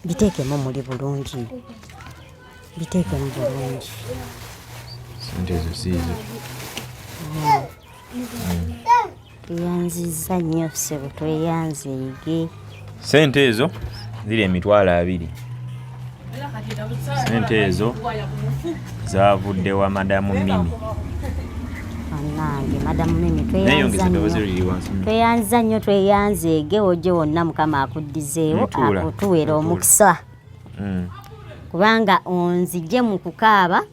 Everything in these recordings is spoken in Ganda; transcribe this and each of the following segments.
biteekemu muli bulungi biteekemu bulungi sente ezo siizo tweyanziza nnyo ssebo tweyanzeege sente ezo ziri emitwalo abiri sente ezo zavudde wa madamu mimi anange madamu mimi tweyanza nnyo tweyanza ege oje wonna mukama akuddizeewo akutuwera omukisa mm. kubanga onzije mu kukaaba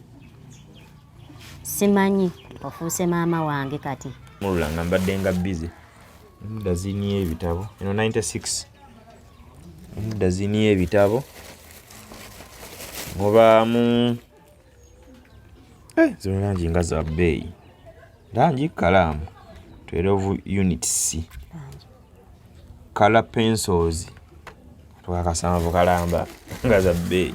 simanyi ofuuse maama wange kati mulula nga mbadde nga bize muda ziniyo ebitabo eno 96 dazini y'ebitabo mubaamu eh, zino langi nga za bbeeyi langi kalaamu 12 units kala pencils twakasanvu kalamba nga za bbeeyi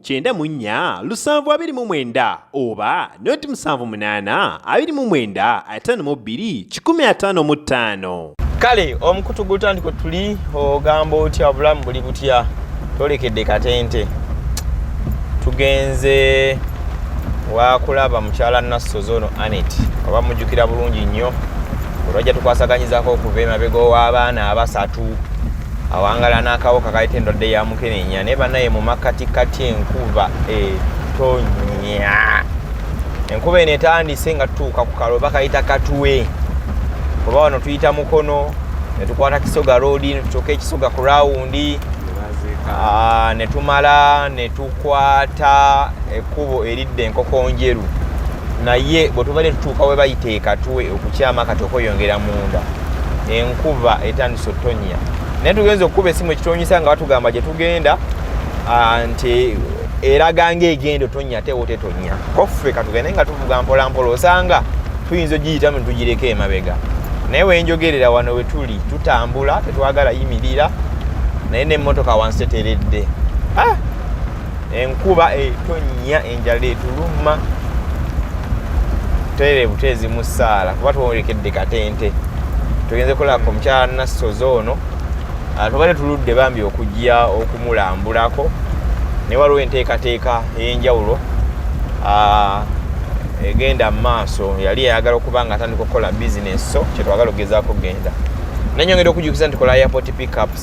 kyenda mu nnya lusanvu abiri mu mwenda oba noti musanvu munaana abiri mu mwenda ataano mu bbiri kikumi ataano mu ttaano kale omukutu gutandika otuli ogamba otya obulamu buli butya tolekedde katente tugenze wakulaba mukyala nassozi ono anet oba mujjukira bulungi nnyo olwajja tukwasaganyizaako okuva emabega ow'abaana abasatu awangala n'akawuka kaleta endwadde ya mukenenya naye banaye mu makkati kati enkuba etonya enkuba eno etandise nga tutuuka ku kalo bakayita katuwe oba wano tuyita mukono netukwata kisoga roodi netutuuka ekisoga ku rawundi ah, netumala netukwata ekkubo eridde enkoko njeru naye bwe tubadde tutuuka we bayita ekatuwe okukyama kati okweyongera munda enkuba etandise sotonya naye tugenza okukuba esimu ekitonyisa nga batugamba gye tugenda ah, nti eraga ngaegenda otonya ate wotetonya koffe katugende nga tuvuga mpolampola osanga tuyinza ogiyitamu netugireko emabega naye wenjogerera wano wetuli tutambula tetwagala yimirira naye nemotoka wansi teteredde ah! enkuba etonnya enjala etuluma tutere buteezi mu ssaala kuba twolekedde katente tugenze kulaba omukyala nassozi ono ah, tubadde tuludde bambi okujja okumulambulako ne waliwo enteekateeka ey'enjawulo ah, egenda mu maaso yali yayagala okuba nga atandika okukola bizinesi so kyetwagala okugezaako okugenda nanyongera okujukiza nti kola airport pickups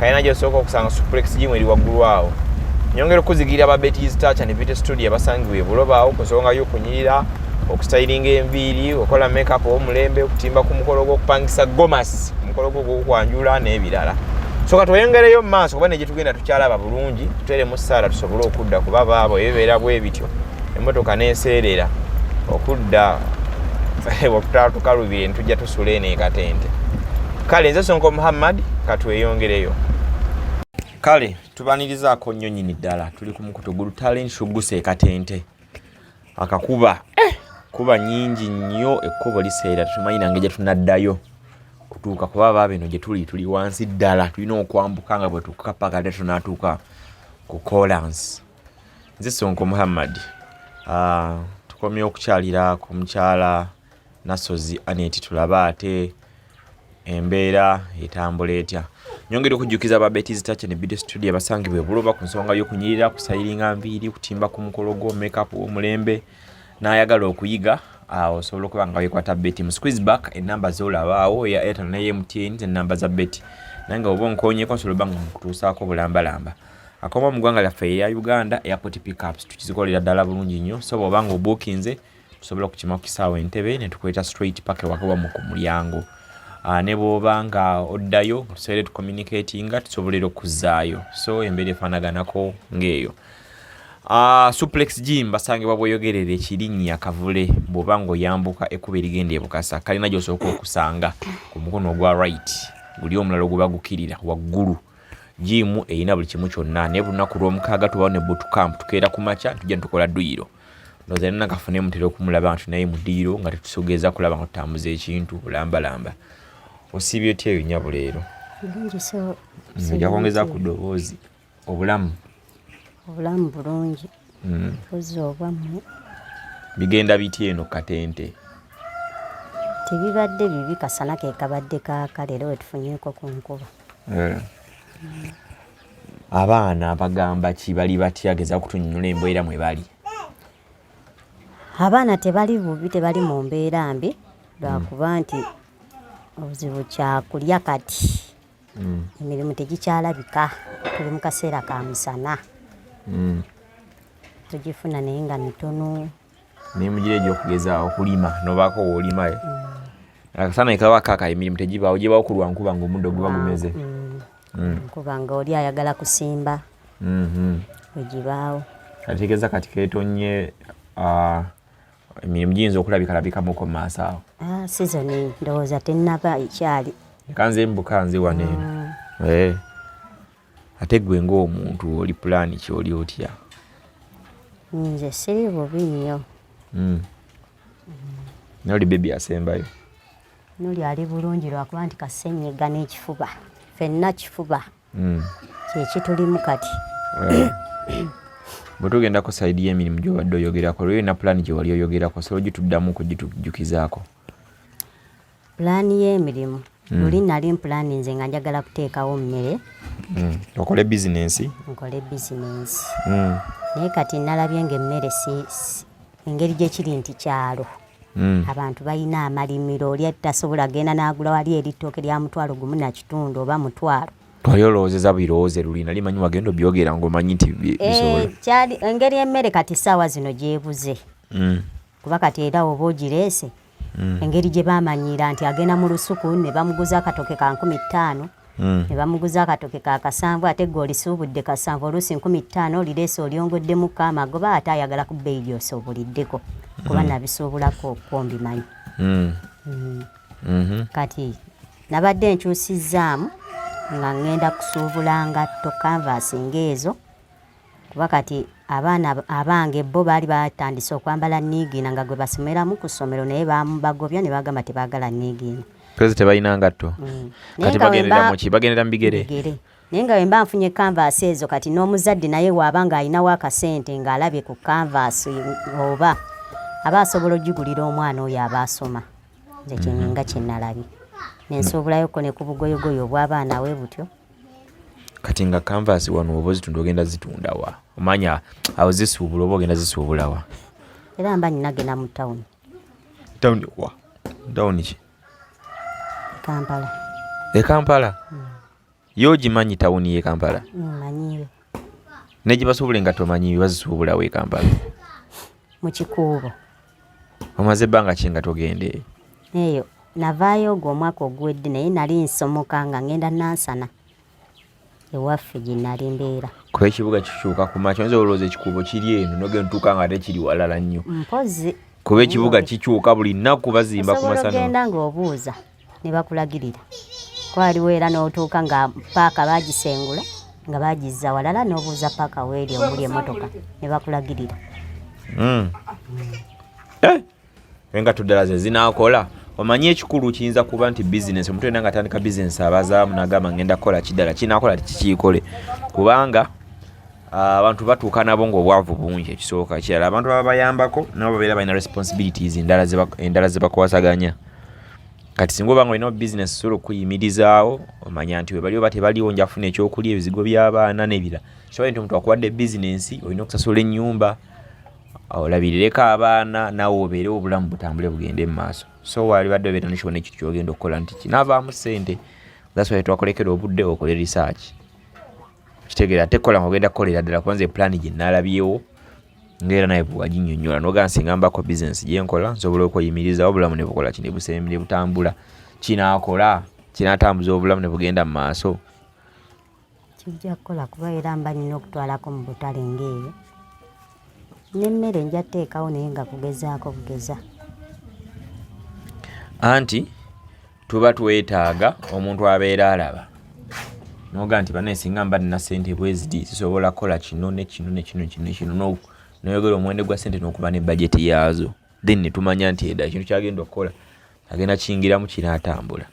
kalina gyosooka okusanga suplex gimu eri waggulu awo nyongera okuzigirira ba betis touch and beauty studio abasangiwa ebulobaawo ku nsonga y'okunyirira okustayiringa enviiri okola makeup omulembe okutimba ku mukolo gw'okupangisa gomas omukolo gwo gwokwanjula n'ebirala soka tweyongereyo mumaaso kuba negyetugenda tukyalaba bulungi tutere mu saala tusobole okudda kuba baabo ebibeera bwe bityo emotoka neseerera okudda okutatukalubire ntujja sula eno ekatente kale nze sonko muhammad katweyongereyo kale tubanirizaako nnyo nyini ddala tuli ku mukutu gulu talent shugusa ekatente akakuba eh! kuba nyingi nnyo ekkubo liseera tumanyi nange gye tunaddayo kutuuka kuba baba bino gye tuli tuli wansi ddala tulina okwambuka nga bwe tukapa kate tunatuuka ku colansi nze sonko muhammad uh, tukomye okukyalira ku mukyala Nasozi Aneti tulabe ate embeera etambula etya nyongera okujjukiza ba betis touch and beauty studio abasangibwa ebuloba ku nsonga y'okunyirira kusayiringa nviiri kutimba ku mukolo gwo makeup omulembe n'ayagala okuyiga awo osobola okuba nga wekwata beti mu squeeze back enamba zolabaawo eya airtel ne mtn zenamba za beti naye nga oba onkonyeko nsobola oba nga nkutuusaako bulambalamba akoma mu ggwanga lyaffe eya uganda airport pickups tukizikolera ddala bulungi nnyo so bw'oba nga obuukinze so, tusobola okukima ku kisaawa entebe ne tukuleeta straight paka ewaka wamu ku mulyango ah, ne bwoba nga oddayo tusobole tucommunicatinga tusobolera okuzaayo so embeera efaanaganako ng'eyo Uh, suplex gym basangibwa bweyogerera ekirinnya kavule bwoba ngaoyambuka ekkuba erigenda ebukasa kalina gyosooka okusanga ku mukono ogwa right guli omulala oguba gukirira waggulu jiimu erina buli kimu kyonna naye bulunaku lwomukaaga tubawo ne boot camp tukeera ku makya tujja netukola duyiro ndowooza yalina kafune mutera okumulaba nti naye mudiiro nga tetusogeeza kulaba nga tutambuza ekintu bulambalamba osiibye otya eyo nyabo leero ojja kwongeza ku ddoboozi obulamu obulamu bulungi hmm. ozi obwammwe bigenda bitya eno katente tebibadde bibi kasana kekabadde kaaka leero wetufunyeko ku nkuba eh. hmm. abaana bagamba ki bali batya geza okutunyonyola embeera mwe bali abaana tebali bubi tebali mu mbeera mbi lwakuba mm. nti obuzibu kyakulya kati mm. emirimu tegikyalabika tuli mu kaseera ka musana mm. tugifuna naye nga mitono emirimu giri egyokugeza okulima nobaako woolimae eh? akasana ekaba kaka emirimu tegibaawo gyebawo ku lwankuba nga omuddo guba gumeze mm. Mm. nkuba nga oli ayagala kusimba mm-hmm. egibaawo ategeeza kati ketonye ah, emirimu giyinza okulabikalabikamuko mu maaso awo ah, sizoni ndowooza tennaba ekyali kanze mbuka nze waneeno mm. eh. ate gwe ng'omuntu oli pulaani ki oli otya nze siri bubi nnyo hmm. noli bebi asembayo noli ali bulungi lwakuba nti kasenyiga n'ekifuba fenna kifuba hmm. kyekitulimu kati bwe tugenda ku sayidi y'emirimu gy'obadde oyogerako olwo yonna pulaani gye wali oyogerako solo gituddamu okugitujukizaako pulaani y'emirimu mm. luli nali mpulaani nze nga njagala kuteekawo mmere mm. okole bizinensi nkole bizinensi mm. naye kati nalabye nga emmere engeri gyekiri nti kyalo mm. abantu balina amalimiro oli tasobola genda n'agula wali eritooke lya mutwalo gumu na kitundu oba mutwalo twali olowoozeza birowooze luli nali manyi wagenda obyogera ngaomanyi nti eh, bisobola engeri emmere kati saawa zino gyebuze mm. kuba kati era oba ogireese mm. engeri gye baamanyiira nti agenda mu lusuku ne bamuguza akatoke ka nkumi ttaano mm. ne bamuguza akatoke ka kasanvu ate gwe olisuubudde kasanvu oluusi nkumi ttaano olireese olyongoddemu ka amagoba ate ayagala ku bbeeyi gyosuubuliddeko kuba mm. nabisuubulako okwombimanyi mm. mm. mm -hmm. kati nabadde nkyusizzaamu nga ŋŋenda kusuubula ngatto kanvaasi ng'ezo kuba kati abaana abange bo baali batandise okwambala niigiina nga gwe basomeramu ku ssomero naye bamubagobya ne bagamba tebaagala niigiina pezi tebalina ngatto mm. kati bagendera muki bagendera mu bigere naye nga wemba nfunye kanvaasi ezo kati n'omuzadde naye waaba nga alinawo akasente ng'alabye ku kanvaasi oba aba asobola okugigulira omwana oyo aba asoma nze kyenyinga mhm. kyenalabye nensuubulayo ko ne ku bugoyogoyo obw'abaana we butyo kati nga canvas wano oba ozitunda ogenda zitundawa omanya awo zisuubula oba ogenda zisuubulawa era mba ninagenda mu tawuni tawuni wa tawuni ki kampala ekampala hmm. ye ogimanyi tawuni ye kampala hmm, manyiwe negye basuubula engatto manyiwe bazisuubulawo ekampala mu kikuubo omaze ebbanga ki nga togenda eyo eyo navaayo ogwo omwaka oguwedde naye nali nsomoka nga ngenda nansana ewaffe gye nali mbeera kuba ekibuga kikyuka ku makya nze olowooza ekikuubo kiri eno nogenda tuuka nga ate kiri walala nnyo mpozi kuba ekibuga kikyuka buli nnaku bazimba ku masana ogenda ng'obuuza ne bakulagirira kwaliwo era n'otuuka nga paaka bagisengula nga bagizza walala n'obuuza paaka weeri omuli emotoka ne bakulagirira hmm. eh! engatto ddala ze zinaakola omanyi ekikulu kiyinza kuba nti bizinesi omuntu yena nga atandika bizinesi abazaamu nagamba ngenda kukola kiddala kinakola tikikiikole kubanga ah, abantu batuuka nabo ngaobwavu bungi ekisooka ekirala abantu baba bayambako nabo babeera balina responsibilities endala zebakwasaganya kati singa obanga olina obusiness osobola okuyimirizaawo omanya nti webali oba tebaliwo njafuna ekyokulya ebizigo by'abaana nebira kiba nti omuntu akuwadde bizinensi olina okusasula ennyumba olabirireko abaana nawe obeere obulamu butambule bugende mu maaso so walibadde obeera nekiwona ekyo kyogenda okukola nti kinavaamu sente thaswa twakolekera obudde okole risaaki kitegeera ate kola nga ogenda kukolera ddala kubanza eplaani gye nalabyewo ngaera naye bwewaginyonyola nogaa nsinga mbako bisinesi gyenkola nsobola okweyimiriza obulamu nebukola ki nebusembire butambula kinakola kinatambuza obulamu nebugenda mu maaso kijja kukola kuba era mba nina okutwalako mu butale ngaeyo nemmere nja teekawo naye nga kugezaako bugeza anti tuba twetaaga omuntu abeera alaba noga nti banaye singa mba nina sente bweziti sisobola kukola kino nekino nekino kino nekino noyogera omuwende gwa sente nokuba ne bajeti yaazo then netumanya nti eda ekintu kyagenda okukola agenda kiyingiramu kinaatambula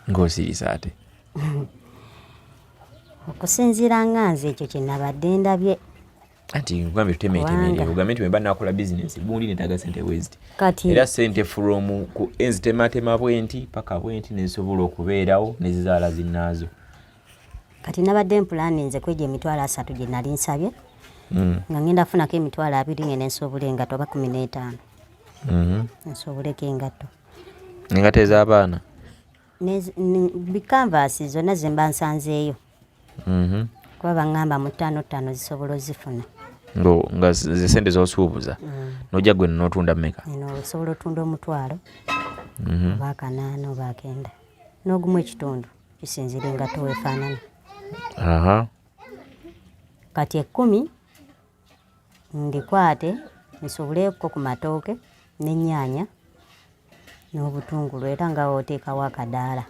ng'osirise ate okusinziira nga nze ekyo kyenabadde ndabye anti nkugambye tutemeetemerere ogambye nti wemba nakola bizinensi bundi netaga sente bweziti era sente furomu ku enzitematema bwenti paka bwenti nezisobola okubeerawo nezizaala zinaazo kati nabadde mpulani nze kwegyo emitwalo asatu gye nali nsabye hmm. nga ngenda funako emitwalo abiri ngene nsobula engatto oba kumi n'etaano hmm. nsobuleko engatto Engata ez'abaana bikanvaasi zonna ze mba nsanzeeyo mhm. kuba baŋŋamba mu ttaano ttaano zisobola ozifuna nga zesente zosuubuza mm. nojja gwe notunda meka osobola otunda omutwalo mhm. oba akanaana oba akenda n'ogumu ekitundu kisinzira engatto wefaanana kati ekkumi ndikwate nsubuleeko ku matooke n'ennyaanya n'obutungulu era nga oteekawo akadaala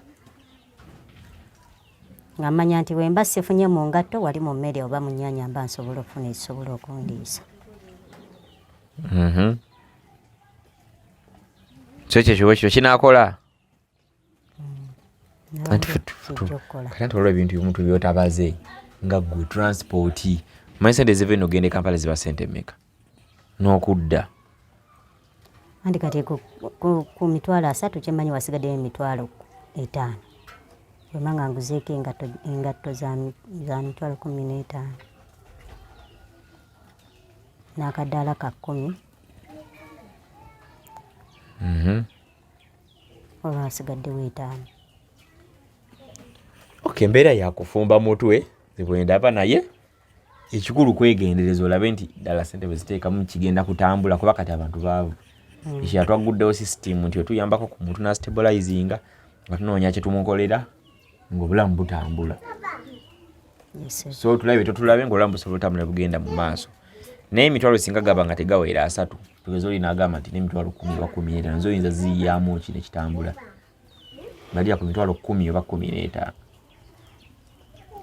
nga mmanya nti bwemba sifunye mu ngatto wali mu mmere oba mu nnyaanya mba nsobola okufuna ekisobola okundiisa mhm. so ekyo kiba ekyo kinaakola kati nti olwo ebintu bimu tubyotabaze nga gwe transport manyi sente eziva eno ogenda ekampala ziba sente meka n'okudda andi kati ku mitwalo asatu kyemanyi wasigaddeyo emitwalo etaano wemanga nguzeeko engatto za mitwalo kumi n'etaano n'akadaala ka kkumi mhm. olwo asigaddewo etaano ok embeera yakufumba mutwe zibwendaba naye ekikulu kwegendereza olabe nti ddala sente bweziteekamu kigenda kutambula kuba kati abantu baavu hmm. ekya twagguddewo system nti otuyambako ku muntu nastabilizinga nga tunoonya kyetumukolera ngaobulamu butambula so tulabe totulabe ngaolamu busobola otambula bugenda mu maaso naye emitwalo singa gaba nga tegawera asatu tugeze olina agamba nti nemitwalo kumi oba kumi n'etaano nze oyinza ziyamu ki nekitambula ngalira ku mitwalo kumi oba kumi n'etaano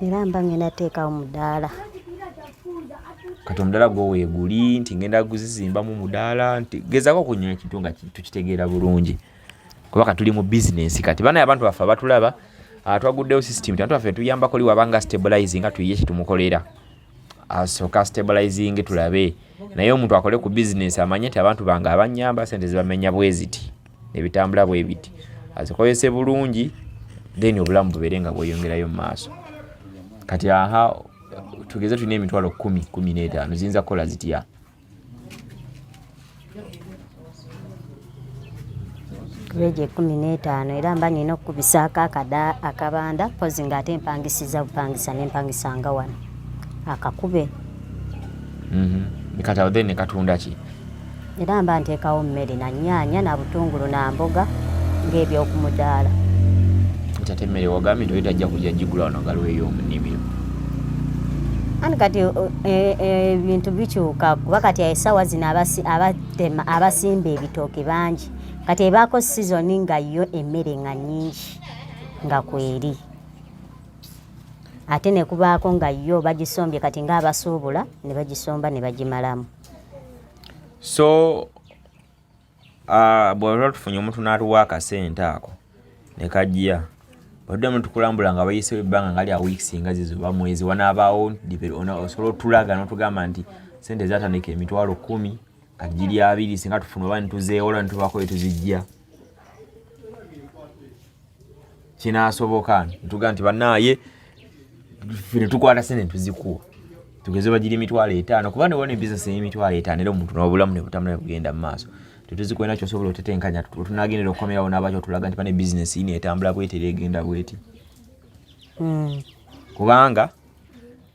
era mba ngenda teekawo mudaala kati omudaala gwo weeguli nti ngenda guzizimbamu mudaala nti gezako okunyola ekintu nga tukitegeera bulungi kuba katuli mu bizinensi kati banaye abantu baffe abatulaba ah, twaguddewo system tantu baffe tuyambako li wabanga stabilize nga tuyiye kyetumukolera asooka ah, stabilizing tulabe naye omuntu akole ku bizinensi amanye nti abantu bange abanyamba sente zibamenya bweziti nebitambula bwebiti azikozese bulungi then obulamu bubeere nga bweyongerayo mu maaso kati aha tugeze tulina emitwalo kumi kumi n'etaano ziyinza kukola zitya weegi ekumi n'etaano era mba nina okukubisaako akabanda mpozi nga ate mpangisiza bupangisa nempangisanga wano akakube mhm. kati awo then nekatunda ki era mba nteekawo mmere na nyaanya na butungulu na mboga ng'ebyokumudaala nti ate emmere wagambye nti oyo tajja kujja gigula wano galweyo omunimiro ani kati e, e, ebintu bikyuka kuba kati esawa zino abatema abasimba ebitooke bangi kati ebaako sizoni nga yo emmere nga nyingi nga kweri ate nekubaako nga yo bagisombye kati nga abasuubula ne bagisomba ne bagimalamu so Ah, bwaba tufunye omuntu n'atuwa akasente ako ne kajja oddemu tukulambula nga bayisewo ebbanga nga lya weeks nga zizo oba mwezi wanaabaawo osobola otulaga n'otugamba nti sente zatandika emitwalo kumi kajiri abiri singa tufuna oba nituzeewola nitubaako etuzijja kinasoboka ntuga nti banaye fino tukwata sene tuzikuwa tugeze bagiri emitwalo etaano kuba newona ebisinesi emitwalo etaano era omuntu nobulamu nebutambula nebugenda mu maaso tetuzikuina kyosobola otetenkanya tunagendera okukomerawo nabaki otulaga nti bane bisinesi ino etambula bwetera egenda bweti hmm. kubanga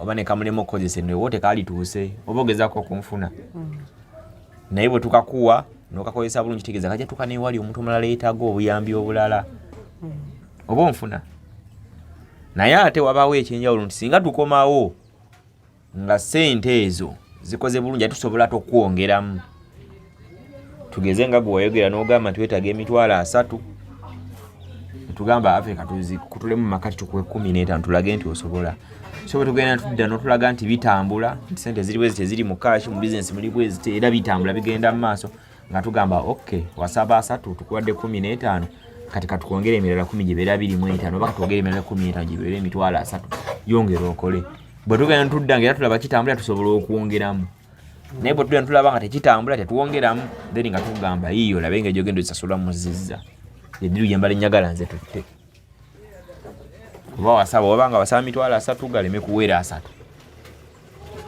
oba ne kamulema okukozesa eno ewo tekalituuse oba ogezaako okunfuna mm. naye bwe tukakuwa nokakozesa bulungi kitegeeza kajja tuka newali omuntu omulala yetaaga obuyambi obulala mm. oba onfuna naye ate wabaawo ekyenjawulo nti singa tukomawo nga sente ezo zikoze bulungi ate tusobola tokwongeramu tugeze nga gwe wayogera n'ogamba nti wetaaga emitwalo asatu tugamba ave katuzi kutulemu makati tukuwe kumi n'etaano tulage nti osobola so bwe tugenda tudda n'otulaga nti bitambula nti sente ziri bwezi teziri mu kaashi mu bizinesi muli bwezi era bitambula bigenda mu maaso nga tugamba ok wasaba asatu tukuwadde kumi n'etaano kati katwongere emirala kumi gibeera biri mu etaano oba katwongere emirala kumi n'etaano gibeera emitwalo asatu yongera okole bwe tugenda tudda nga era tulaba kitambula tusobola okwongeramu naye bwe tugenda tulaba nga tekitambula tetuwongeramu then nga tugamba yiyo olabe nga egyogenda osasula muzizza ediru yembala enyagala nze tutte oba wasaba oba nga wasaba mitwalo asatu galeme kuweera asatu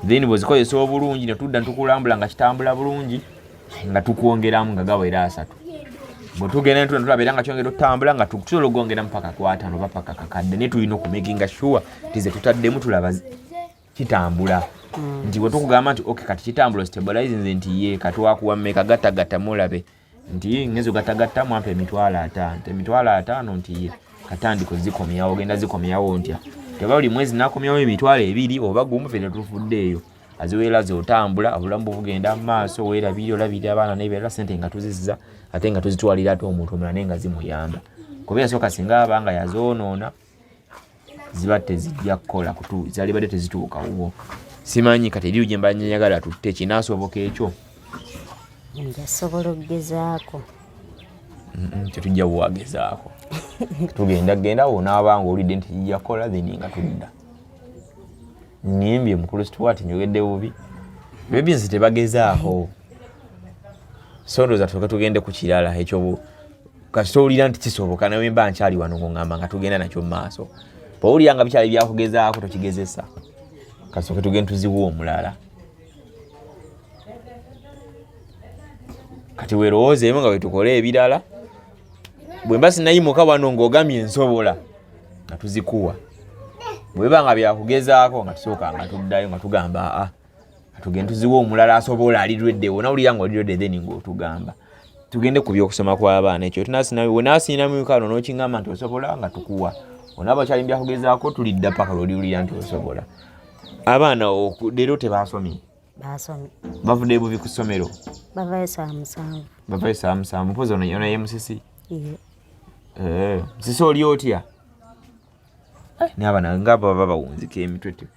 then bwezikozesa obulungi netudda netukulambula nga kitambula bulungi nga tukwongeramu nga gaweera asatu bwetugenda netudda netulaba era nga kyongera otutambula nga tusobola okugongeramu paka kwatano oba paka kakadde naye tulina okumakinga sure tize tutaddemu tulaba kitambula mm. nti bwe tukugamba nti ok kati kitambula stabilize nze nti ye katwakuwa meka gatagatta mulabe nti ngezo gatagatta mwampa emitwalo ataano emitwalo ataano nti ye katandika ozikomyawo ogenda zikomyawo ntya teba buli mwezi nakomyawo emitwalo ebiri oba gumu fena tufudde eyo aziweera zotambula obulamu bugenda mu maaso weerabiri olabirira abaana nebeera sente nga tuzizza ate nga tuzitwalira ate omuntu omulala naye nga zimuyamba kuba yasooka singa aba nga yazoonoona ziba tezijja kukola kutu zalibadde tezituuka wuwo simanyi kati eriyo gyemba nyagala tutte kinaasoboka ekyo njasobola okugezaako tetujja buwagezaako tugenda genda wonaaba nga olidde nti yakola then nga tudda nimbye mukulu stuart njogedde bubi bebi nze tebagezaako so ndooza tuke tugende ku kirala ekyo kasita owulira nti kisoboka nawe mba nkyali wano ngongamba nga tugenda nakyo mu maaso bwowulira nga bikyali byakugezaako tokigezesa kasooke tugenda tuziwa omulala kati werowoozeemu nga wetukola ebirala bwemba sinayimuka wano ngaogamye ensobola nga tuzikuwa bweba nga byakugezaako nga tusooka nga tuddayo nga tugamba aa ah, tugende tuziwe omulala asobola ali ready wona ulira ngo ready then ngo tugamba tugende ku byokusoma kwa baana ekyo tunasi nawe wona asina mu kano no kingama nti osobola nga tukuwa wona ba chali mbya kugeza ko tuli dda paka lodi ulira nti osobola abaana oku dero te basomi basomi bavude bubi kusomero bavaye saa musanvu bavaye saa musanvu pozo no yona yemusisi iye eh sisi oli otya eh, ne abana ngaba baba wunzike emitwe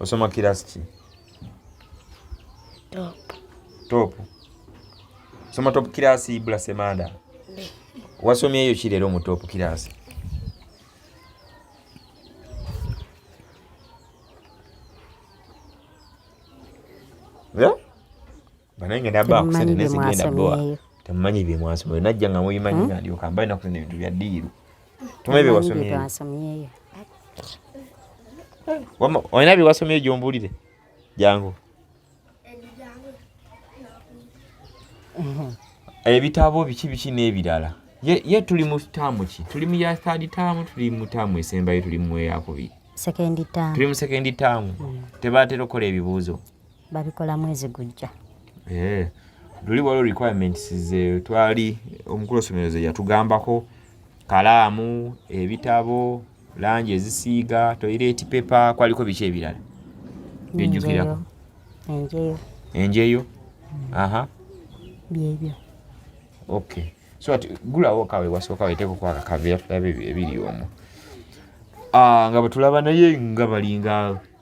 Osoma kirasi ki? Top. Top. Soma top kirasi bula semanda. Wasomye eyo ki leero mu top kirasi? Yeah? temumanyi bye mwasomyeyo najja nga mubimanyi hmm? nalyoka mba naku zino ebintu bya diiru tumanyi bye wasomyeyo olina bye wasomyeyo gyombuulire jangu ebitabo biki biki n'ebirala ye tuli mu taamu ki tuli mu ya third taamu tuli mu taamu esembayo tuli mu eyakubiri tuli mu sekendi taamu hmm. tebatera okukola ebibuuzo babikola mwezi gujja eh, luli waliwo requirements ze twali omukulu osomero ze yatugambako kalaamu ebitabo langi ezisiiga toilet paper kwaliko biki ebirala byejjukirako enjeyo enjeyo aha byebyo okay so ati gulawo kawe wasooka weteeko kwaka kaveera tulabe ebiri omwo ah, nga bwetulaba naye nga balinga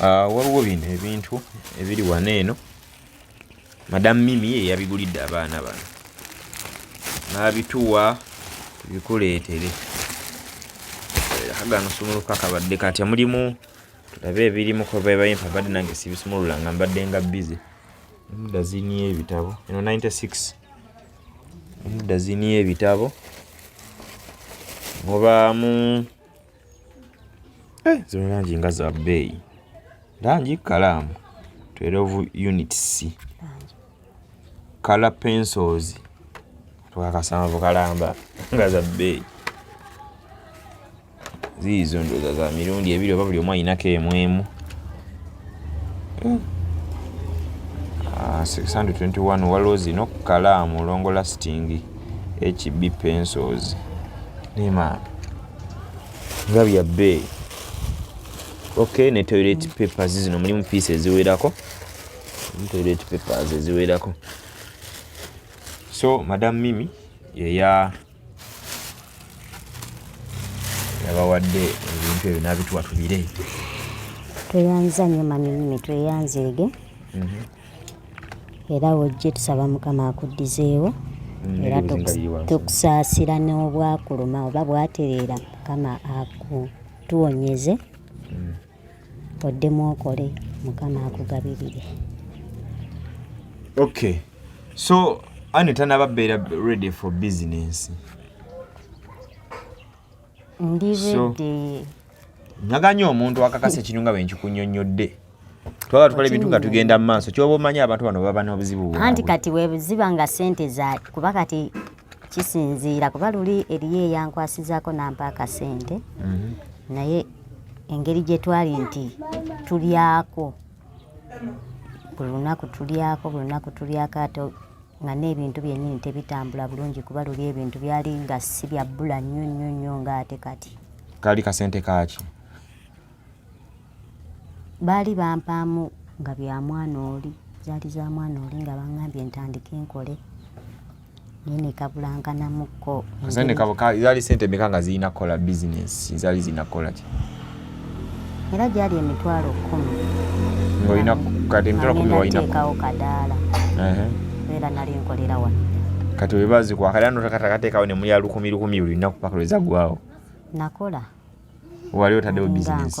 ah, waliwo bino ebintu ebiri wano eno madamu mimi yeyabigulidde abaana bano n'abituwa bikuleetere kagano sumuluka kabadde katya mulimu tulabe ebirimu kobebayimpa mbadde nange sibisumulula nga mbadde nga bize emudazini y'ebitabo eno 96 emudazini y'ebitabo mubaamu Eh, zino langi nga za bbeeyi langi kalaamu 12 units kala pencils twakasanvu kalamba nga za bbeeyi ziizo ndoza za mirundi ebiri oba buli omu ayinako emu emu 621 eh. ah, waliwo zino kalaamu longo lasting hb pencils nemaano nga bya bbeeyi ok ne toilet papers zino mulimu piisi eziwerako toilet papers eziwerako so madam mimi yeya yabawadde ebintu ebyo nabituwa tubire tweyanza nyo mami mimi tweyanzeege mm -hmm. era wojje tusaba mukama akuddizeewo mm, era tukusaasira n'obwakuluma oba bwatereera mukama akutuwonyeze mm. oddemu okole mukama akugabirire okay so ani tanababeera ready for business ndiredde naganye omuntu akakasa ekintu nga bwenkikunyonyodde twaba tukola ebintu nga tugenda mu maaso kyoba omanyi abantu bano baba n'obuzibu bwabwe anti kati webuziba nga sente za kuba kati kisinziira kuba luli eriyo eyankwasizaako nampa akasente mhm. naye engeri gye twali nti tulyako buli lunaku tulyako buli lunaku tulyako ate nga n'ebintu byennyini tebitambula bulungi kuba luli ebintu byali nga si bya bbula nnyo nnyo nnyo ng'ate kati kaali kasente kaaki baali bampaamu nga bya mwana oli zaali za mwana oli nga bangambye ntandike nkole naye nekabulankanamu kasente kabuka zali sente meka nga zirina kukola bizinesi zali zirina kukola ki era gyali emitwalo kumi ngolina kati emitwalo kumi walinateekawo kadaala era nali nkolera wano kati webazikwa kadaala notakatakateekawo ne mulya lukumi lukumi buli lunaku paka lwezagwawo nakola wali otaddewo bizinesi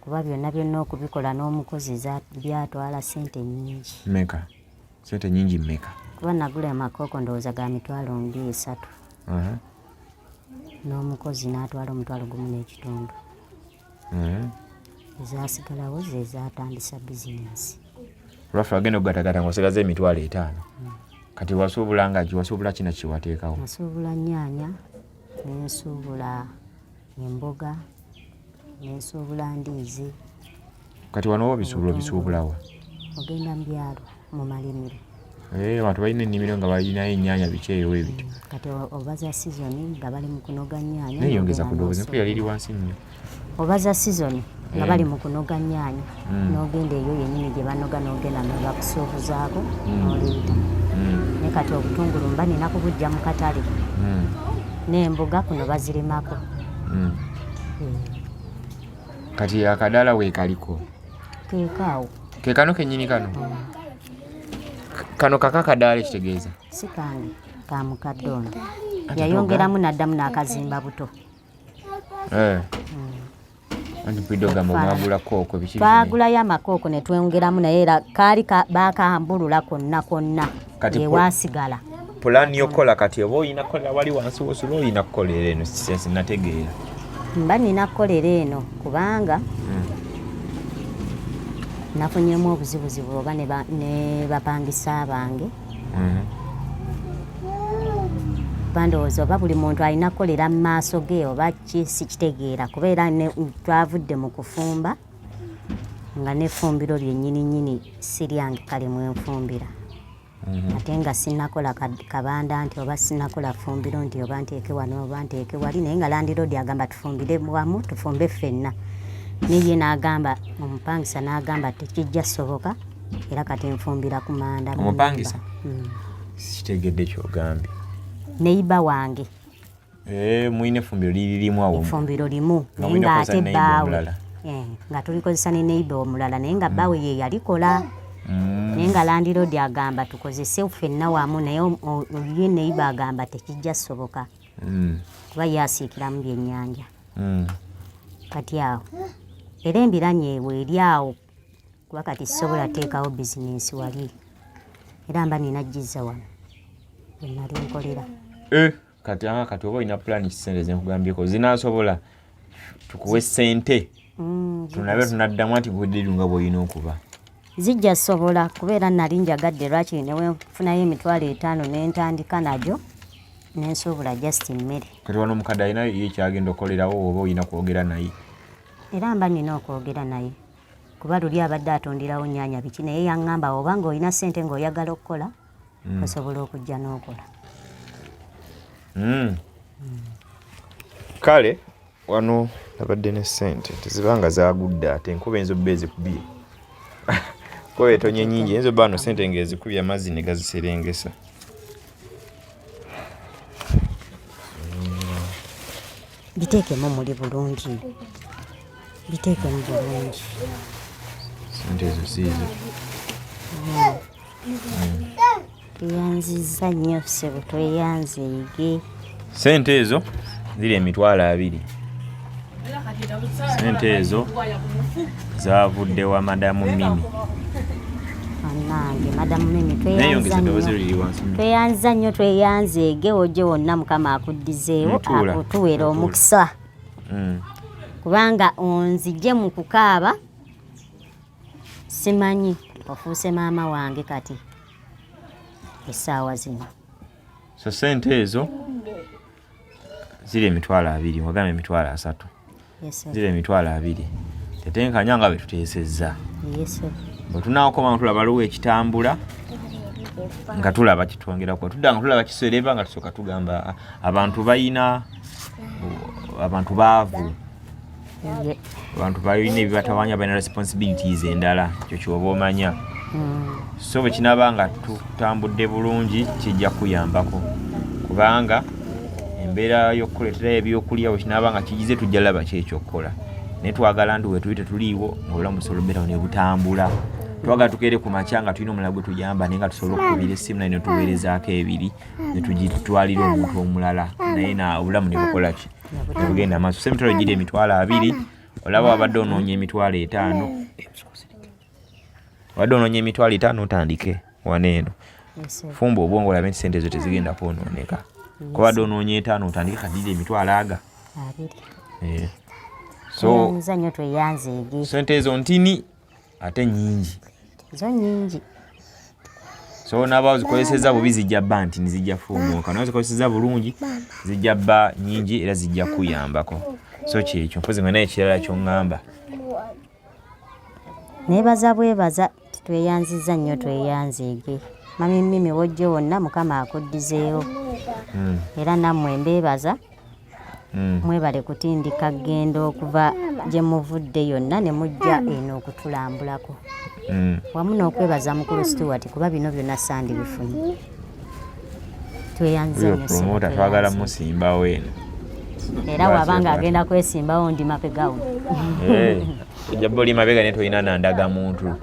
kuba byonna byonna okubikola n'omukozi byatwala sente nyingi meka sente nyingi meka kuba nagula amakooko ndowooza ga mitwalo mbi esatu n'omukozi n'atwala omutwalo gumu n'ekitundu ezasigalawo ze zatandisa bizinensi lwaffe agenda okugatagata ngaosigaza emitwalo etaano hmm. kati wasuubula ngaki wasuubula kina kiwateekawo nasuubula nyaanya nensuubula emboga nensuubula ndiizi kati wano oba bisuubula obisuubulawa ogenda mu byalo mu malimiro eh, abantu balina ennimiro nga balinayo ennyanya biki eyo ebiti mm, kati oba za sizoni nga bali mu kunoga nnyaanya neyongeza ku doozi yali eri wansi nnyo oba za sizoni nga bali mu kunoga nnyaanya mm. n'ogenda eyo yennyini gye banoga n'ogenda nga bakusuubuzaako mm. n'oliita mm. ne kati obutungulu mba nina kubujja mu katale n'embuga kuno bazirimako kati akadaala weekaliko keekaawo keekano kennyini kano kano kaka kadaala ekitegeeza si kange ka mukadde ono yayongeramu n'addamu n'akazimba buto eh. baagulayo amakooko ne tweyongeramu naye era kaali baakambulula konna konna ewaasigala pulaani y'okukola kati oba olina kukolera wali wansi wosula olina kukolera eno sinategeera mba nina kukolera eno kubanga hmm. nafunyemu obuzibuzibu oba ne bapangisa bange hmm. bandowooza oba buli muntu alina kukolera mu maaso ge oba sikitegeera kuba era twavudde mu kufumba nga nefumbiro lyenyini nyini siryange kale mwenfumbira mhm. ate nga sinakola kabanda nti oba sinakola fumbiro nti oba nteeke wano oba nteeke wali naye nga landiroodi agamba tufumbire wamu tufumbe ffenna neye n'agamba omupangisa n'agamba tekijja soboka era kati nfumbira ku manda omupangisa mm. sikitegedde kyogambye neyiba wange Eh, mulina efumbiro liririmu awo efumbiro limu naye nga ate bbaawe eh, nga tulikozesa ne neighbor omulala naye nga bbaawe ye yalikola mm. naye nga landiroodi agamba tukozese ffenna wamu naye ye neighbor agamba tekijja soboka mm. kuba ye asiikiramu byennyanja mm. kati awo era embiranye ewe eri awo kuba kati sisobola teekawo bizinensi wali era mba nina jizza wano wenali nkolera eh. kati ah, kati oba olina pulani kisente zenkugambyeko zinasobola tukuwe sente mm, tunabe tunaddamu nti budiru nga bwolina okuba zijja sobola kubeera nali njagadde lwakiri newenfunayo emitwalo etaano nentandika najo nensuubula just mmere kati wano omukadde alina ye kyagenda okolerawo oba olina kwogera naye era mba nina okwogera naye kuba luli abadde atundirawo nyanya biki naye yaŋŋamba oba ng'olina ssente ng'oyagala okukola mm. osobola okujja n'okola mm. kale wano nabadde ne sente teziba nga zagudde ate enkuba enzo bba ezikubye kuba etonye nyingi enzo bba no sente nga ezikubye amazzi ne gaziserengesa biteekemu muli bulungi biteekemu bulungi sente ezo siizo tweyanziza hmm. nnyo sebo tweyanziige sente ezo ziri emitwalo abiri sente ezo Zavudde wa Madam Mimi. Anange Madam Mimi tweyanza nnyo. Tweyanza nnyo tweyanze ege oje wonna Mukama akuddizeewo akutuwera omukisa. Mm. Kubanga onzije mu kukaaba simanyi ofuuse maama wange kati essaawa zino. So sente ezo ziri emitwalo abiri wagamba emitwalo asatu ziri emitwalo abiri tetenkanya nga betuteesezza bwe tunaakoma nga tulaba luwa ekitambula nga tulaba kitwongerako tudda nga tulaba kisereba nga tusooka tugamba abantu bayina abantu baavu abantu balina ebibatawanya balina responsibilities endala ekyo kyoba omanya hmm. so bwe kinaba nga tutambudde bulungi kijja kuyambako kubanga embeera y'okukuleeterayo ebyokulya bwe kinaba nga kigize tujja laba kyekyokukola naye twagala nti wetuli tetuliiwo ngaobulamu busobola obeerawo ne butambula twagala tukeere ku makya nga tulina omulala gwe tuyamba naye nga tusobola okukubira essimu naye netuweerezaako ebiri netugitwalira omuntu omulala naye na obulamu ne bukola ki ogenda maaso se emitwalo giri emitwalo abiri olaba wabadde onoonya emitwalo etaano wabadde onoonya emitwalo etaano otandike wano eno fumba obwongo olabe nti sente ezo tezigenda kwonooneka kubadde onoonya etaano otandike kadiri emitwalo aga eh. so sente ezo ntini ate nyingi zo nyingi so naba ozikozeseza bubi zijja bba nti nizijja fuumuuka naye ozikozeseza bulungi zijja bba nyingi era zijja kuyambako so kyekyo mpozi nga naye ekirala kyoŋŋamba nebaza bwebaza tweyanziza nnyo tweyanzeege mami mimi wojjo wonna mukama akuddizeewo hmm. era nammwe mbeebaza Mm. mwebale kutindika genda okuva gye muvudde yonna ne mujja eno okutulambulako mm. wamu n'okwebaza mukulu stewart kuba bino byonna sandi bifunye tweyanzemota twagala musimbawo eno era waba nga agenda kwesimbawo ndi mapegawo eh. jaba oli mabega naye tolina nandaga muntu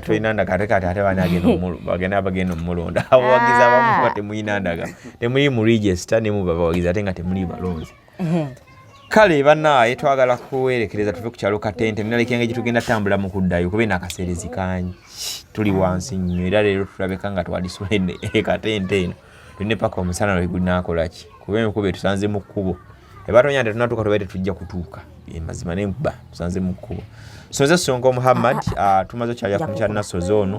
tolina ndaga ate kati ate bana agenda omulonda abawagizi abamu temulina ndaga temuli mu register ne mu babawagizi ate nga temuli balonzi mhm. kale banaaye twagala kuwerekereza tuve ku kyalo katente nina lekenge gye tugenda tambula mu kuddayo kuba eno akaseerezi kangi tuli wansi nnyo era leero tulabeka nga twalisula e katente eno tulina paka omusana lwe gunaakola ki kuba enkuba etusanze mu kkubo ebatonya nti tunatuuka tubaire tetujja kutuuka emazima nenkuba tusanze mu kkubo soze songa omuhammad ah, ah, ah, tumaze okyalya ku mukyalinasoze ono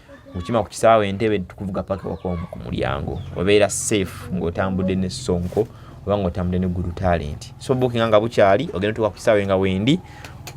okima ku kisaawe entebe tukuvuga paka wakomu ku mulyango obeera safe ng'otambudde ne sonko oba ng'otambudde ne gulu talenti so bukinga nga bukyali ogenda tuka ku kisaawe nga wendi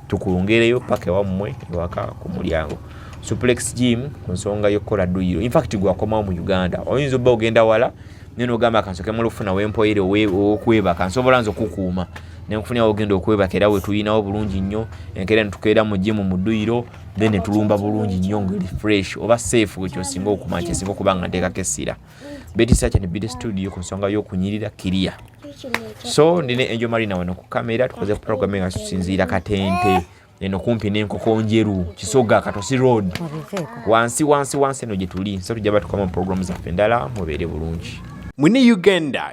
tukungereyo paka ewammwe ewaka ku mulyango suplex gym ku nsonga y'okukola duyiro infact gwakomawo mu uganda oyinza obba ogenda wala naye nogamba kansoke mulufuna wempoyere okwebaka nsobola nze okukuuma nenkufunira wogenda okwebaka era wetuyinawo bulungi nnyo enkeera netukeera mu jimu mu dduyiro then netulumba bulungi nnyo ngeri fresh oba safe wekyosinga okuma kyesinga okuba nga nteekako essira betisacha ne bide studio ku nsonga y'okunyirira kiriya so ndina enjo marina wano ku kamera tukoze programme nga tusinziira katente eno kumpi n'enkoko njeru kisoga katosi road wansi wansi wansi eno gye tuli so tujja batukoma mu programu zaffe endala mubeere bulungi mune uganda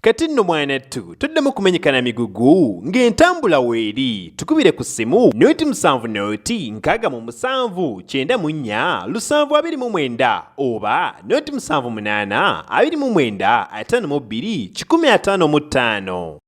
Kati nno mwanattu toddemu kumenyekana migugu ng'entambula weeri tukubire ku ssimu noti musanvu noti nkaaga mu musanvu kyenda mu nnya lusanvu abiri mu mwenda oba noti musanvu munaana abiri mu mwenda ataano mu bbiri kikumi ataano mu ttaano.